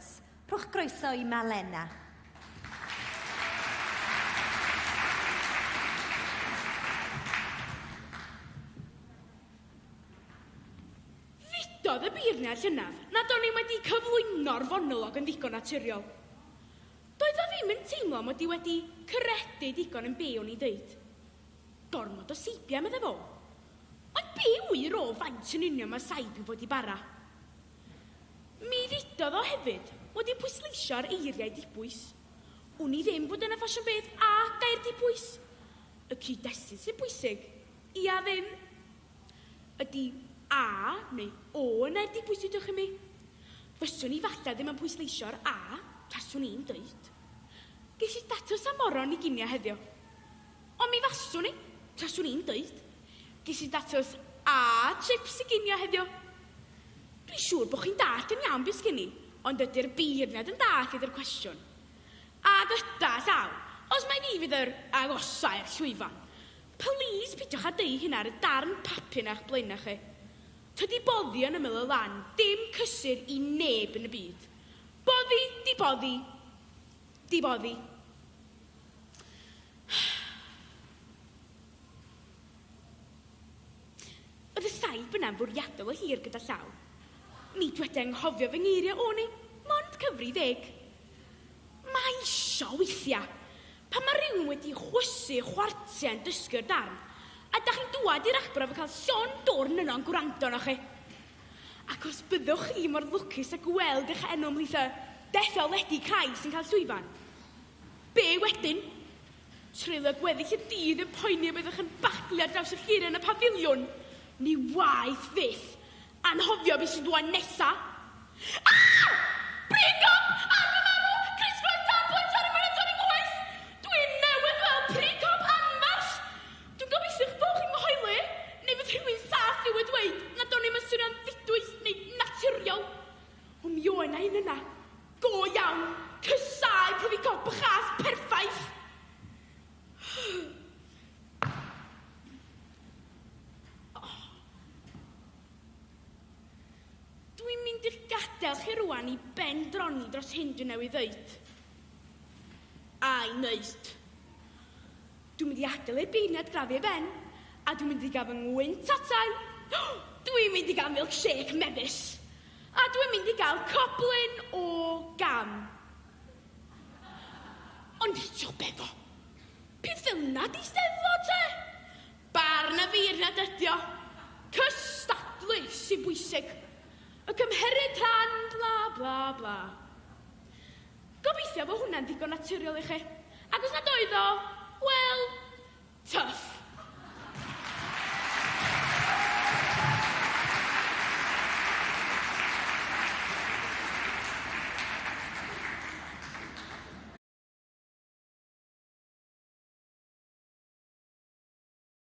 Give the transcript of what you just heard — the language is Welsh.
Awards. Rhowch groeso i Malena. Dywedodd y beirniaid llynedd nad o'n i wedi cyflwyno'r fonolog yn ddigon naturiol. Doedd o ddim yn teimlo mod i wedi credu digon yn be' o'n i'n ddeud. Gormod o seibia, meddai fo. Ond be' ŵyr o faint yn union mae saib i fod i bara? Mi ddudodd o hefyd fod hi'n pwysleisio ar eiriau dibwys. Wn i ddim bod dyna ffasiwn beth â gair dibwys. Y cyd-destun sy'n bwysig, ia ddim? Ydy 'a' neu 'o' yn air dibwys dudwch chi mi? Fyswn i falle ddim yn pwysleisio ar 'a', taswn i'n dweud. Ges i datws am moron i ginio heddiw. Ond mi faswn i, taswn i'n dweud. Ges i datws a chips i ginio heddiw. Dwi'n siŵr bod chi'n dallt yn iawn be sgen i, ond ydy'r beirniad yn dallt ydy'r cwestiwn. A gyda llaw, os mai fi fydd yr agosai'r llwyfan. Plîs pidiwch â deu hynna ar y darn papur 'na o'ch blaenau chi. Tydi boddi yn ymyl y lan ddim cysur i neb yn y byd. Boddi 'di boddi 'di boddi. Oedd y saib yna'n fwriadol o hir gyda llaw. Mi dweda enghofio fy ngeiriau o neu mond cyfri ddeg. Mae isio weithia. Pan mae rhywun wedi chwysu chwartia yn dysgu'r darn, a da chi'n dwad i'r arbrawf yn cael llon dwrn yno'n gwrando arnoch chi. Ac os byddwch chi mor lwcus a gweld eich enw ymhlith y dethol ledi cau sy'n cael llwyfan, Be wedyn? Treulio gweddill y dydd yn poeni y byddwch yn baglu ar draws y ffyrdd yn y pafiliwn. Ni waeth fyth. Anghofio be sy'n dwan nesa. Ah! Pregom! Arwrmarw! Crysglo'r tân poets ar y myned ar y nghoes! Dwi newydd weld pregom anferth! Dwi'n gobeithio eich bod chi'n fy hoeli, neu fydd rhywun saff i'w ddweud nad o'n i'm yn swnio'n ddidwyll neu naturiol. O mi oe' 'na un yna. Go iawn! Caesáu pryfi gob a chas perffaith! Dwi'n mynd i'ch gadael chi rŵan i ben droni dros hyn dwi newydd ddeud. A'i wneud. Dwi'n mynd i adael y beirniad grafu i ben, a dwi'n mynd i gael fy ngwynt atai. Dwi'n mynd i gael milkshake mefus, a dwi'n mynd i gael coblyn o gam. Ond eto, be fo? Peth fel 'na 'di Steddfod, te? Barn y feirniad ydi o. Cystadlu sy'n bwysig. Y cymherid rhan, bla, bla, bla. Gobeithio fo hwnna'n ddigon naturiol i chi. Ac os nad oedd o, wel, twff.